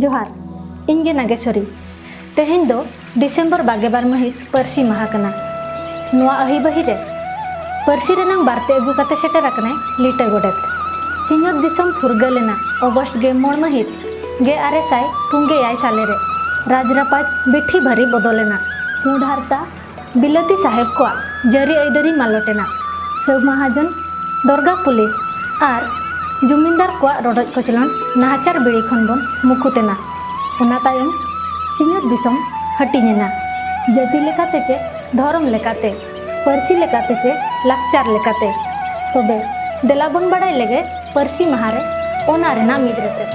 ᱡᱚᱦᱟᱨ ᱤᱧ ᱜᱮ ᱱᱟᱜᱮᱥᱚᱨᱤ ᱛᱮᱦᱮᱧ ᱫᱚ ᱰᱤᱥᱮᱢᱵᱚᱨ ᱵᱟᱜᱮ ᱵᱟᱨ ᱢᱟᱹᱦᱤᱛ ᱯᱟᱹᱨᱥᱤ ᱢᱟᱦᱟ ᱠᱟᱱᱟ ᱱᱚᱣᱟ ᱟᱹᱦᱤᱵᱟᱹᱦᱤ ᱨᱮ ᱯᱟᱹᱨᱥᱤ ᱨᱮᱱᱟᱝ ᱵᱟᱨᱛᱮ ᱟᱹᱜᱩ ᱠᱟᱛᱮ ᱥᱮᱴᱮᱨ ᱟᱠᱟᱱᱟᱭ ᱞᱤᱴᱟᱹ ᱜᱚᱰᱮᱛ ᱥᱤᱧᱚᱛ ᱫᱤᱥᱚᱢ ᱯᱷᱩᱨᱜᱟᱹ ᱞᱮᱱᱟ ᱚᱜᱚᱥᱴ ᱜᱮ ᱢᱚᱬ ᱢᱟᱹᱦᱤᱛ ᱜᱮ ᱟᱨᱮ ᱥᱟᱭ ᱯᱩᱱᱜᱮ ᱮᱭᱟᱭ ᱥᱟᱞᱮ ᱨᱮ ᱨᱟᱡᱽ ᱨᱟᱯᱟᱡᱽ ᱵᱤᱴᱷᱤ ᱵᱷᱟᱹᱨᱤ ᱵᱚᱫᱚᱞᱮᱱᱟ ᱯᱩᱸᱰ ᱦᱟᱨᱛᱟ ᱵᱤᱞᱟᱹᱛᱤ ᱥᱟᱦᱮᱵᱽ ᱠᱚᱣᱟᱜ ᱡᱟᱹᱨᱤ ᱟᱹᱭᱫᱟᱹᱨᱤ ᱢᱟᱞᱚᱴ ᱮᱱᱟ᱾ ᱥᱟᱹᱣ ᱢᱟᱦᱟᱡᱚᱱ, ᱫᱚᱨᱜᱟ ᱯᱩᱞᱤᱥ ᱟᱨ ᱡᱚᱢᱤᱱᱫᱟᱨ ᱠᱚᱣᱟᱜ ᱨᱚᱰᱚᱡ ᱠᱚᱪᱞᱚᱱ ᱱᱟᱦᱟᱪᱟᱨ ᱵᱮᱲᱤ ᱠᱷᱚᱱ ᱵᱚᱱ ᱢᱩᱠᱩᱛ ᱮᱱᱟ᱾ ᱚᱱᱟ ᱛᱟᱭᱚᱢ ᱥᱤᱧᱚᱛ ᱫᱤᱥᱚᱢ ᱦᱟᱹᱴᱤᱧ ᱮᱱᱟ᱾ ᱡᱟᱹᱛᱤ ᱞᱮᱠᱟᱛᱮ ᱪᱮ ᱫᱷᱚᱨᱚᱢ ᱞᱮᱠᱟᱛᱮ, ᱯᱟᱹᱨᱥᱤ ᱞᱮᱠᱟᱛᱮ ᱪᱮ ᱞᱟᱠᱪᱟᱨ ᱞᱮᱠᱟᱛᱮ᱾ ᱛᱚᱵᱮ ᱫᱮᱞᱟ ᱵᱚᱱ ᱵᱟᱰᱟᱭ ᱞᱮᱜᱮ ᱯᱟᱹᱨᱥᱤ ᱢᱟᱦᱟ ᱨᱮ ᱚᱱᱟ ᱨᱮᱱᱟᱜ ᱢᱤᱫ ᱨᱮᱛᱮᱫ᱾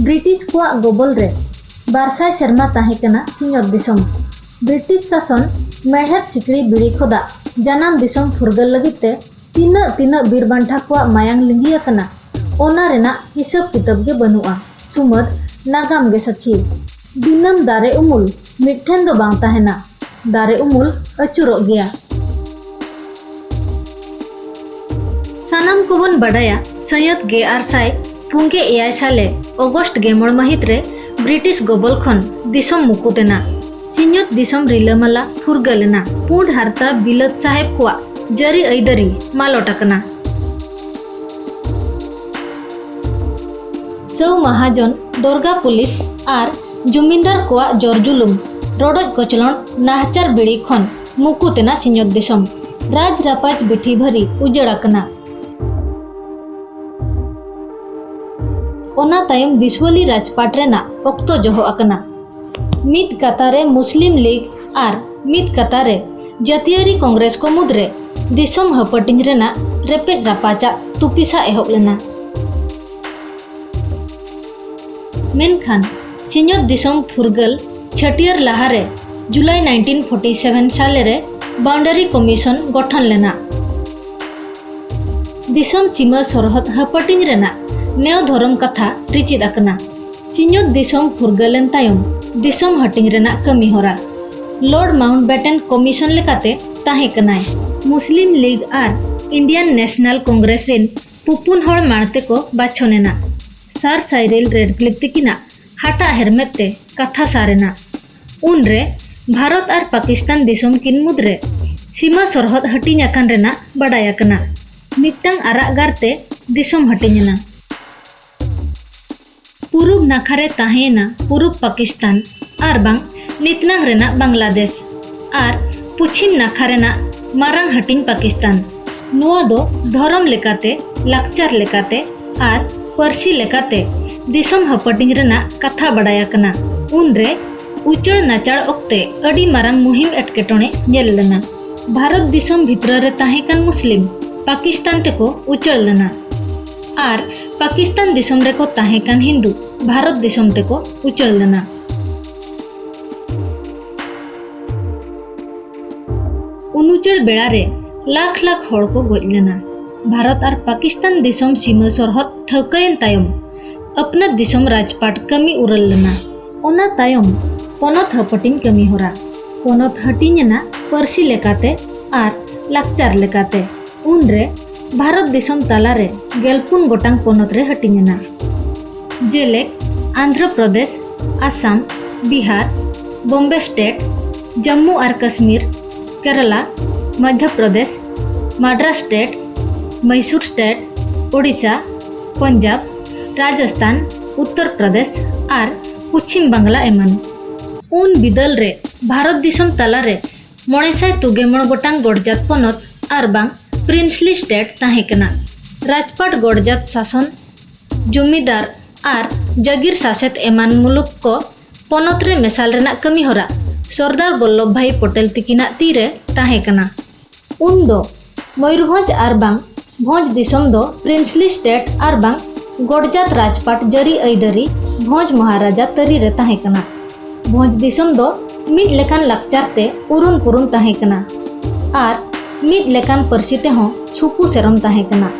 ᱵᱨᱤᱴᱤᱥ ᱠᱚᱣᱟᱜ ᱜᱚᱵᱚᱞ ᱨᱮ ᱵᱟᱨᱥᱟᱭ ᱥᱮᱨᱢᱟ ᱛᱟᱦᱮᱸ ᱠᱟᱱᱟ ᱥᱤᱧᱚᱛ ᱫᱤᱥᱚᱢ᱾ ᱵᱨᱤᱴᱤᱥ ᱥᱟᱥᱚᱱ ᱢᱮᱬᱦᱮᱫ ᱥᱤᱠᱲᱤ ᱵᱤᱲᱤ ᱠᱷᱚᱫᱟᱜ ᱡᱟᱱᱟᱢ ᱫᱤᱥᱚᱢ ᱯᱷᱩᱨᱜᱟᱹᱞ ᱞᱟᱹᱜᱤᱫ ᱛᱮ ᱛᱤᱱᱟᱹᱜ ᱛᱤᱱᱟᱹᱜ ᱵᱤᱨ ᱵᱟᱱᱴᱷᱟ ᱠᱚᱣᱟᱜ ᱢᱟᱭᱟᱝ ᱞᱤᱸᱜᱤ ᱟᱠᱟᱱᱟ ᱚᱱᱟ ᱨᱮᱱᱟᱜ ᱦᱤᱥᱟᱹᱵᱽ ᱠᱤᱛᱟᱹᱵᱽ ᱜᱮ ᱵᱟᱹᱱᱩᱜᱼᱟ ᱥᱩᱢᱟᱹᱫᱽ ᱱᱟᱜᱟᱢ ᱜᱮ ᱥᱟᱹᱠᱷᱤ᱾ ᱫᱤᱱᱟᱹᱢ ᱫᱟᱨᱮ ᱩᱢᱩᱞ ᱢᱤᱫ ᱴᱷᱮᱱ ᱫᱚ ᱵᱟᱝ ᱛᱟᱦᱮᱱᱟ, ᱫᱟᱨᱮ ᱩᱢᱩᱞ ᱟᱹᱪᱩᱨᱚᱜ ᱜᱮᱭᱟ᱾ ᱥᱟᱱᱟᱢ ᱠᱚᱵᱚᱱ ᱵᱟᱰᱟᱭᱟ ᱥᱟᱹᱭᱟᱹᱛ ᱜᱮᱟᱨ ᱥᱟᱭ ᱯᱩᱱᱜᱮ ᱮᱭᱟᱭ ᱥᱟᱞᱮ ᱚᱜᱚᱥᱴ ᱜᱮᱢᱚᱬ ᱢᱟᱹᱦᱤᱛ ᱨᱮ ᱵᱨᱤᱴᱤᱥ ᱜᱚᱵᱚᱞ ᱠᱷᱚᱱ ᱫᱤᱥᱚᱢ ᱢᱩᱠᱩᱛ ᱮᱱᱟ᱾ ᱥᱤᱧᱚᱛ ᱫᱤᱥᱚᱢ ᱨᱤᱞᱟᱹᱢᱟᱞᱟ ᱯᱷᱩᱨᱜᱟᱹᱞ ᱮᱱᱟ᱾ ᱯᱩᱸᱰ ᱦᱟᱨᱛᱟ ᱵᱤᱞᱟᱹᱛ ᱥᱟᱦᱮᱵᱽ ᱠᱚᱣᱟᱜ ᱡᱟᱹᱨᱤ ᱟᱹᱭᱫᱟᱹᱨᱤ ᱢᱟᱞᱚᱴ ᱟᱠᱟᱱᱟ᱾ ᱥᱟᱹᱣ ᱢᱟᱦᱟᱡᱚᱱ ᱫᱚᱨᱜᱟ ᱯᱩᱞᱤᱥ ᱟᱨ ᱡᱩᱢᱤᱱᱫᱟᱨ ᱠᱚᱣᱟᱜ ᱡᱚᱨᱡᱩᱞᱩᱢ ᱨᱚᱰᱚᱡ ᱠᱚᱪᱞᱚᱱ ᱱᱟᱦᱟᱪᱟᱨ ᱵᱤᱲᱤ ᱠᱷᱚᱱ ᱢᱩᱠᱩ ᱛᱮᱱᱟ ᱥᱤᱧᱚᱛ ᱫᱤᱥᱚᱢ ᱨᱟᱡᱽ ᱨᱟᱯᱟᱡᱽ ᱵᱤᱴᱷᱤ ᱵᱷᱟᱹᱨᱤ ᱩᱡᱟᱹᱲ ᱟᱠᱟᱱᱟ ᱚᱱᱟ ᱛᱟᱭᱚᱢ ᱫᱤᱥᱣᱟᱹᱞᱤ ᱨᱟᱡᱽᱯᱟᱴ ᱨᱮᱱᱟᱜ ᱚᱠᱛᱚ ᱡᱚᱦᱚᱜ ᱟᱠᱟᱱᱟ ᱢᱤᱫ ᱠᱟᱛᱷᱟ ᱨᱮ ᱢᱩᱥᱞᱤᱢ ᱞᱤᱜᱽ ᱟᱨ ᱢᱤᱫ ᱠᱟᱛᱷᱟ ᱨᱮ ᱡᱟᱹᱛᱤᱭᱟᱹᱨᱤ ᱠᱚᱝᱜᱨᱮᱥ ᱠᱚ ᱢᱩᱫᱽᱨᱮ ᱫᱤᱥᱚᱢ ᱦᱟᱹᱯᱟᱹᱴᱤᱧ ᱨᱮᱱᱟᱜ ᱨᱮᱯᱮᱡ ᱨᱟᱯᱟᱪᱟᱜ ᱛᱩᱯᱤᱥᱟ ᱮᱦᱚᱵ ᱞᱮᱱᱟ ᱢᱮᱱᱠᱷᱟᱱ ᱥᱤᱧᱚᱛ ᱫᱤᱥᱚᱢ ᱯᱷᱩᱨᱜᱟᱹᱞ ᱪᱷᱟᱹᱴᱭᱟᱹᱨ ᱞᱟᱦᱟᱨᱮ ᱡᱩᱞᱟᱭ 1947 ᱥᱟᱞᱮ ᱨᱮ ᱵᱟᱣᱩᱱᱰᱟᱨᱤ ᱠᱚᱢᱤᱥᱚᱱ ᱜᱚᱴᱷᱚᱱ ᱞᱮᱱᱟ ᱫᱤᱥᱚᱢ ᱥᱤᱢᱟᱹ ᱥᱚᱨᱦᱚᱫ ᱦᱟᱹᱯᱟᱹᱴᱤᱧ ᱨᱮᱱᱟᱜ ᱱᱮᱣ ᱫᱷᱚᱨᱚᱢ ᱠᱟᱛᱷᱟ ᱨᱤᱪᱤᱫ ᱟᱠᱟᱱᱟ ᱥᱤᱧᱚᱛ ᱫᱤᱥᱚᱢ ᱯᱷᱩᱨᱜᱟᱹᱞᱮᱱ ᱛᱟᱭᱚᱢ ᱫᱤᱥᱚᱢ ᱦᱟᱹᱴᱤᱧ ᱨᱮᱱᱟᱜ ᱠᱟᱹᱢᱤ ᱦᱚᱨᱟ ᱞᱚᱨᱰ ᱢᱟᱣᱩᱱᱴ ᱵᱮᱴᱮᱱ ᱠᱚᱢᱤᱥᱚᱱ ᱞᱮᱠᱟᱛᱮ ᱛᱟᱦᱮᱸ ᱠᱟᱱᱟᱭ ᱢᱩᱥᱞᱤᱢ ᱞᱤᱜᱽ ᱟᱨ ᱤᱱᱰᱤᱭᱟᱱ ᱱᱮᱥᱱᱟᱞ ᱠᱚᱝᱜᱨᱮᱥ ᱨᱮᱱ ᱯᱩᱯᱩᱱ ᱦᱚᱲ ᱢᱟᱲᱛᱮ ᱠᱚ ᱵᱟᱪᱷᱚᱱ ᱮᱱᱟ ᱥᱟᱨ ᱥᱟᱭᱨᱤᱞ ᱨᱮᱰᱠᱞᱤᱯ ᱛᱤᱠᱤᱱᱟᱜ ᱦᱟᱴᱟᱜ ᱦᱮᱨᱢᱮᱫ ᱛᱮ ᱠᱟᱛᱷᱟ ᱥᱟᱨ ᱮᱱᱟ ᱩᱱᱨᱮ ᱵᱷᱟᱨᱚᱛ ᱟᱨ ᱯᱟᱠᱤᱥᱛᱟᱱ ᱫᱤᱥᱚᱢ ᱠᱤᱱ ᱢᱩᱫᱽᱨᱮ ᱥᱤᱢᱟᱹ ᱥᱚᱨᱦᱚᱫ ᱦᱟᱹᱴᱤᱧ ᱟᱠᱟᱱ ᱨᱮᱱᱟᱜ ᱵᱟᱰᱟᱭ ᱟᱠᱟᱱᱟ ᱢᱤᱫᱴᱟᱝ ᱟᱨᱟᱜ ᱜᱟᱨᱛᱮ ᱫᱤᱥᱚᱢ ᱦᱟᱹᱴᱤᱧ ᱮᱱᱟ ᱯᱩᱨᱩᱵᱽ ᱱᱟᱠᱷᱟ ᱨᱮ ᱛᱟᱦᱮᱸᱭᱮᱱᱟ ᱯᱩᱨᱩᱵᱽ ᱯᱟᱠᱤᱥᱛᱟᱱ ᱟᱨ ᱵᱟᱝ ᱱᱤᱛᱱᱟᱝ ᱨᱮᱱᱟᱜ ᱵᱟᱝᱞᱟᱫᱮᱥ ᱟᱨ ᱯᱩᱪᱷᱤᱢ ᱱᱟᱠᱷᱟ ᱨᱮᱱᱟᱜ ᱢᱟᱨᱟᱝ ᱦᱟᱹᱴᱤᱧ ᱯᱟᱠᱤᱥᱛᱟᱱ ᱱᱚᱣᱟ ᱫᱚ ᱫᱷᱚᱨᱚᱢ ᱞᱮᱠᱟᱛᱮ ᱞᱟᱠᱪᱟᱨ ᱞᱮᱠᱟᱛᱮ ᱟᱨ ᱯᱟᱹᱨᱥᱤ ᱞᱮᱠᱟᱛᱮ ᱫᱤᱥᱚᱢ ᱦᱟᱹᱯᱟᱹᱴᱤᱧ ᱨᱮᱱᱟᱜ ᱠᱟᱛᱷᱟ ᱵᱟᱰᱟᱭ ᱟᱠᱟᱱᱟ ᱩᱱᱨᱮ ᱩᱪᱟᱹᱲ ᱱᱟᱪᱟᱲ ᱚᱠᱛᱮ ᱟᱹᱰᱤ ᱢᱟᱨᱟᱝ ᱢᱩᱦᱤᱢ ᱮᱴᱠᱮᱴᱚᱬᱮ ᱧᱮᱞ ᱞᱮᱱᱟ ᱵᱷᱟᱨᱚᱛ ᱫᱤᱥᱚᱢ ᱵᱷᱤᱛᱨᱟᱹ ᱨᱮ ᱛᱟᱦᱮᱸ ᱠᱟᱱ ᱢᱩᱥᱞᱤᱢ ᱯᱟᱠᱤᱥᱛᱟᱱ ᱛᱮᱠᱚ ᱩᱪᱟᱹᱲ ᱞᱮᱱᱟ ᱟᱨ ᱯᱟᱠᱤᱥᱛᱟᱱ ᱫᱤᱥᱚᱢ ᱨᱮᱠᱚ ᱛᱟᱦᱮᱸ ᱠᱟᱱ ᱦᱤᱱᱫᱩ ᱵᱷᱟᱨᱚᱛ ᱫᱤᱥᱚᱢ ᱛᱮᱠᱚ ᱩᱪᱟᱹᱲ ᱞᱮᱱᱟ ᱩᱱᱩᱪᱟᱹᱲ ᱵᱮᱲᱟ ᱨᱮ ᱞᱟᱠᱷ ᱞᱟᱠᱷ ᱦᱚᱲ ᱠᱚ ᱜᱚᱡ ᱞᱮᱱᱟ ᱵᱷᱟᱨᱚᱛ ᱟᱨ ᱯᱟᱠᱤᱥᱛᱟᱱ ᱫᱤᱥᱚᱢ ᱥᱤᱢᱟᱹ ᱥᱚᱨᱦᱚᱫ ᱴᱷᱟᱹᱣᱠᱟᱹᱭᱮᱱ ᱛᱟᱭᱚᱢ ᱟᱯᱱᱟᱹᱛ ᱫᱤᱥᱚᱢ ᱨᱟᱡᱽᱯᱟᱴ ᱠᱟᱹᱢᱤ ᱩᱨᱟᱹᱞ ᱞᱮᱱᱟ ᱚᱱᱟ ᱛᱟᱭᱚᱢ ᱯᱚᱱᱚᱛ ᱦᱟᱹᱯᱟᱹᱴᱤᱧ ᱠᱟᱹᱢᱤ ᱦᱚᱨᱟ ᱯᱚᱱᱚᱛ ᱦᱟᱹᱴᱤᱧ ᱮᱱᱟ ᱯᱟᱹᱨᱥᱤ ᱞᱮᱠᱟᱛᱮ ᱟᱨ ᱞᱟᱠᱪᱟᱨ ᱞᱮᱠᱟᱛᱮ ᱩᱱᱨᱮ ᱵᱷᱟᱨᱚᱛ ᱫᱤᱥᱚᱢ ᱛᱟᱞᱟᱨᱮ ᱜᱮᱞᱯᱩᱱ ᱜᱚᱴᱟᱝ ᱯᱚᱱᱚᱛ ᱨᱮ ᱦᱟᱹᱴᱤᱧ ᱮᱱᱟ ᱡᱮᱞᱮᱠ ᱟᱱᱫᱷᱨᱚ ᱯᱨᱚᱫᱮᱥ ᱟᱥᱟᱢ ᱵᱤᱦᱟᱨ ᱵᱚᱢᱵᱮ ᱥᱴᱮᱴ ᱡᱟᱢᱢᱩ ᱟᱨ ᱠᱟᱥᱢᱤᱨ ᱠᱮᱨᱟᱞᱟ ᱢᱚᱫᱷᱭᱚ ᱯᱨᱚᱫᱮᱥ ᱢᱟᱰᱨᱟᱥ ᱥᱴᱮᱴ ᱢᱟᱭᱥᱩᱨ ᱥᱴᱮᱴ ᱳᱰᱤᱥᱟ ᱯᱚᱧᱡᱟᱵᱽ ᱨᱟᱡᱚᱥᱛᱷᱟᱱ ᱩᱛᱛᱚᱨ ᱯᱨᱚᱫᱮᱥ ᱟᱨ ᱯᱚᱪᱷᱤᱢ ᱵᱟᱝᱞᱟ ᱮᱢᱟᱱ ᱩᱱ ᱵᱤᱫᱟᱹᱞ ᱨᱮ ᱵᱷᱟᱨᱚᱛ ᱫᱤᱥᱚᱢ ᱛᱟᱞᱟᱨᱮ ᱢᱚᱬᱮ ᱥᱟᱭ ᱛᱩᱜᱮ ᱢᱚᱬ ᱜᱚᱴᱟᱝ ᱜᱚᱰᱡᱟᱛ ᱯᱚᱱᱚᱛ ᱟᱨ ᱵᱟᱝ ᱯᱨᱤᱱᱥᱞᱤ ᱥᱴᱮᱴ ᱛᱟᱦᱮᱸ ᱠᱟᱱᱟ ᱨᱟᱡᱽᱯᱟᱴ ᱜᱚᱰᱡᱟᱛ ᱥᱟᱥᱚᱱ ᱡᱚᱢᱤᱫᱟᱨ ᱟᱨ ᱡᱟᱜᱤᱨ ᱥᱟᱥᱮᱛ ᱮᱢᱟᱱ ᱢᱩᱞᱩᱠ ᱠᱚ ᱯᱚᱱᱚᱛ ᱨᱮ ᱢᱮᱥᱟᱞ ᱨᱮᱱᱟᱜ ᱠᱟᱹᱢᱤ ᱦᱚᱨᱟ ᱥᱚᱨᱫᱟᱨ ᱵᱚᱞᱞᱚᱵᱷ ᱵᱷᱟᱭ ᱯᱚᱴᱮᱞ ᱛᱤᱠᱤᱱᱟᱜ ᱛᱤ ᱨᱮ ᱛᱟᱦᱮᱸ ᱠᱟᱱᱟ ᱩᱱ ᱫᱚ ᱢᱚᱭᱩᱨᱵᱷᱚᱸᱡᱽ ᱟᱨ ᱵᱟᱝ ᱵᱷᱚᱸᱡᱽ ᱫᱤᱥᱚᱢ ᱫᱚ ᱯᱨᱤᱱᱥᱞᱤ ᱥᱴᱮᱴ ᱟᱨ ᱵᱟᱝ ᱜᱚᱰᱡᱟᱛ ᱨᱟᱡᱽᱯᱟᱴ ᱡᱟᱹᱨᱤ ᱟᱹᱭᱫᱟᱹᱨᱤ ᱵᱷᱚᱸᱡᱽ ᱢᱚᱦᱟᱨᱟᱡᱟ ᱛᱟᱹᱨᱤ ᱨᱮ ᱛᱟᱦᱮᱸ ᱠᱟᱱᱟ ᱵᱷᱚᱸᱡᱽ ᱫᱤᱥᱚᱢ ᱫᱚ ᱢᱤᱫ ᱞᱮᱠᱟᱱ ᱞᱟᱠᱪᱟᱨ ᱛᱮ ᱩᱨᱩᱱ ᱯᱩᱨᱩᱱ ᱛᱟᱦᱮᱸ ᱠᱟᱱᱟ ᱟᱨ ᱢᱤᱫ ᱞᱮᱠᱟᱱ ᱯᱟᱹᱨᱥᱤ ᱛᱮᱦᱚᱸ ᱥᱩᱯᱩ ᱥᱮᱨᱚᱢ ᱛᱟᱦᱮᱸ ᱠᱟᱱᱟ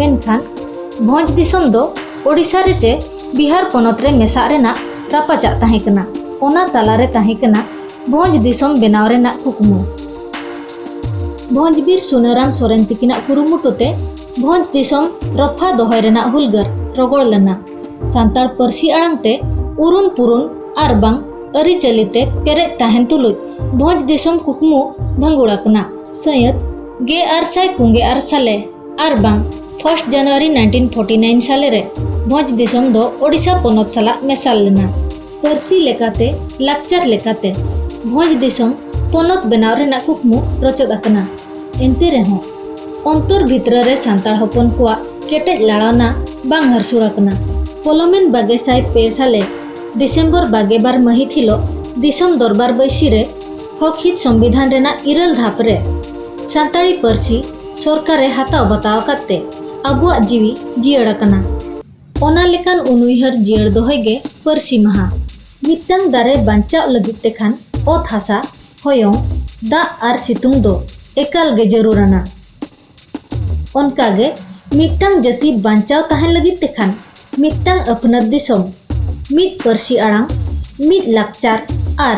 ᱢᱮᱱᱠᱷᱟᱱ ᱵᱷᱚᱸᱡᱽ ᱫᱤᱥᱚᱢ ᱫᱚ ᱳᱰᱤᱥᱟ ᱨᱮ ᱪᱮ ᱵᱤᱦᱟᱨ ᱯᱚᱱᱚᱛ ᱨᱮ ᱢᱮᱥᱟᱜ ᱨᱮᱱᱟᱜ ᱨᱟᱯᱟᱪᱟᱜ ᱛᱟᱦᱮᱸ ᱠᱟᱱᱟ ᱚᱱᱟ ᱛᱟᱞᱟᱨᱮ ᱛᱟᱦᱮᱸ ᱠᱟᱱᱟ ᱵᱷᱚᱸᱡᱽ ᱫᱤᱥᱚᱢ ᱵᱮᱱᱟᱣ ᱨᱮᱱᱟᱜ ᱠᱩᱠᱢᱩ ᱵᱷᱚᱸᱡᱽ ᱵᱤᱨ ᱥᱩᱱᱟᱹᱨᱟᱢ ᱥᱚᱨᱮᱱ ᱛᱤᱠᱤᱱᱟᱜ ᱠᱩᱨᱩᱢᱩᱴᱩ ᱛᱮ ᱵᱷᱚᱸᱡᱽ ᱫᱤᱥᱚᱢ ᱨᱚᱯᱷᱟ ᱫᱚᱦᱚᱭ ᱨᱮᱱᱟᱜ ᱦᱩᱞᱜᱟᱹᱨ ᱨᱚᱜᱚᱲ ᱞᱮᱱᱟ ᱥᱟᱱᱛᱟᱲ ᱯᱟᱹᱨᱥᱤ ᱟᱲᱟᱝ ᱛᱮ ᱩᱨᱩᱱ ᱯᱩᱨᱩᱱ ᱟᱨ ᱵᱟᱝ ᱟᱹᱨᱤᱪᱟᱹᱞᱤ ᱛᱮ ᱯᱮᱨᱮᱡ ᱛᱟᱦᱮᱱ ᱛᱩᱞᱩᱡ ᱵᱷᱚᱸᱡᱽ ᱫᱤᱥᱚᱢ ᱠᱩᱠᱢᱩ ᱵᱷᱟᱹᱜᱩᱲ ᱟᱠᱟᱱᱟ ᱥᱟᱹᱭᱟᱹᱛ ᱜᱮ ᱟᱨ ᱥᱟᱭ ᱯᱩᱸᱜᱮ ᱟᱨ ᱥᱟᱞᱮ ᱟᱨ ᱵᱟᱝ first January nineteen forty nine ᱥᱟᱞᱮ ᱨᱮ ᱵᱷᱚᱸᱡᱽ ᱫᱤᱥᱚᱢ ᱫᱚ ᱳᱰᱤᱥᱟ ᱯᱚᱱᱚᱛ ᱥᱟᱞᱟᱜ ᱢᱮᱥᱟᱞ ᱞᱮᱱᱟ ᱯᱟᱹᱨᱥᱤ ᱞᱮᱠᱟᱛᱮ ᱞᱟᱠᱪᱟᱨ ᱞᱮᱠᱟᱛᱮ ᱵᱷᱚᱸᱡᱽ ᱫᱤᱥᱚᱢ ᱯᱚᱱᱚᱛ ᱵᱮᱱᱟᱣ ᱨᱮᱱᱟᱜ ᱠᱩᱠᱢᱩ ᱨᱚᱪᱚᱫ ᱟᱠᱟᱱᱟ ᱮᱱᱛᱮ ᱨᱮᱦᱚᱸ ᱚᱱᱛᱚᱨ ᱵᱷᱤᱛᱨᱟᱹ ᱨᱮ ᱥᱟᱱᱛᱟᱲ ᱦᱚᱯᱚᱱ ᱠᱚᱣᱟᱜ ᱠᱮᱴᱮᱡ ᱞᱟᱲᱟᱣᱱᱟ ᱵᱟᱝ ᱦᱟᱹᱨᱥᱩᱲ ᱟᱠᱟᱱᱟ ᱯᱚᱞᱚᱢᱮᱱ ᱵᱟᱜᱮ ᱥᱟᱭ ᱯᱮ ᱥᱟᱞᱮ ᱰᱤᱥᱮᱢᱵᱚᱨ ᱵᱟᱜᱮ ᱵᱟᱨ ᱢᱟᱹᱦᱤᱛ ᱦᱤᱞᱳᱜ ᱫᱤᱥᱚᱢ ᱫᱚᱨᱵᱟᱨ ᱵᱟᱹᱭᱥᱤ ᱨᱮ ᱦᱚᱠ ᱦᱤᱛ ᱥᱚᱝᱵᱤᱫᱷᱟᱱ ᱨᱮᱱᱟᱜ ᱤᱨᱟᱹᱞ ᱫᱷᱟᱯ ᱨᱮ ᱥᱟᱱᱛᱟᱲᱤ ᱯᱟᱹᱨᱥᱤ ᱥᱚᱨᱠᱟᱨᱮ ᱦᱟᱛᱟᱣ ᱵᱟᱛᱟᱣ ᱟᱠᱟᱫ ᱛᱮ ᱟᱵᱚᱣᱟᱜ ᱡᱤᱣᱤ ᱡᱤᱭᱟᱹᱲ ᱟᱠᱟᱱᱟ ᱚᱱᱟ ᱞᱮᱠᱟᱱ ᱩᱱᱩᱭᱦᱟᱹᱨ ᱡᱤᱭᱟᱹᱲ ᱫᱚᱦᱚᱭ ᱜᱮ ᱯᱟᱹᱨᱥᱤ ᱢᱟᱦᱟ᱾ ᱢᱤᱫᱴᱟᱹᱝ ᱫᱟᱨᱮ ᱵᱟᱧᱪᱟᱣᱜ ᱞᱟᱹᱜᱤᱫ ᱛᱮ ᱠᱷᱟᱱ ᱚᱛ ᱦᱟᱥᱟ, ᱦᱚᱭᱚᱝ, ᱫᱟᱜ ᱟᱨ ᱥᱤᱛᱩᱝ ᱫᱚ ᱮᱠᱟᱞ ᱜᱮ ᱡᱟᱹᱨᱩᱲ ᱟᱱᱟ᱾ ᱚᱱᱠᱟ ᱜᱮ ᱢᱤᱫᱴᱟᱹᱝ ᱡᱟᱹᱛᱤ ᱵᱟᱧᱪᱟᱣ ᱛᱟᱦᱮᱸᱱ ᱞᱟᱹᱜᱤᱫ ᱛᱮ ᱠᱷᱟᱱ ᱢᱤᱫᱴᱟᱹᱝ ᱟᱹᱯᱱᱟᱹᱛ ᱫᱤᱥᱚᱢ, ᱢᱤᱫ ᱯᱟᱹᱨᱥᱤ ᱟᱲᱟᱝ, ᱢᱤᱫ ᱞᱟᱠᱪᱟᱨ ᱟᱨ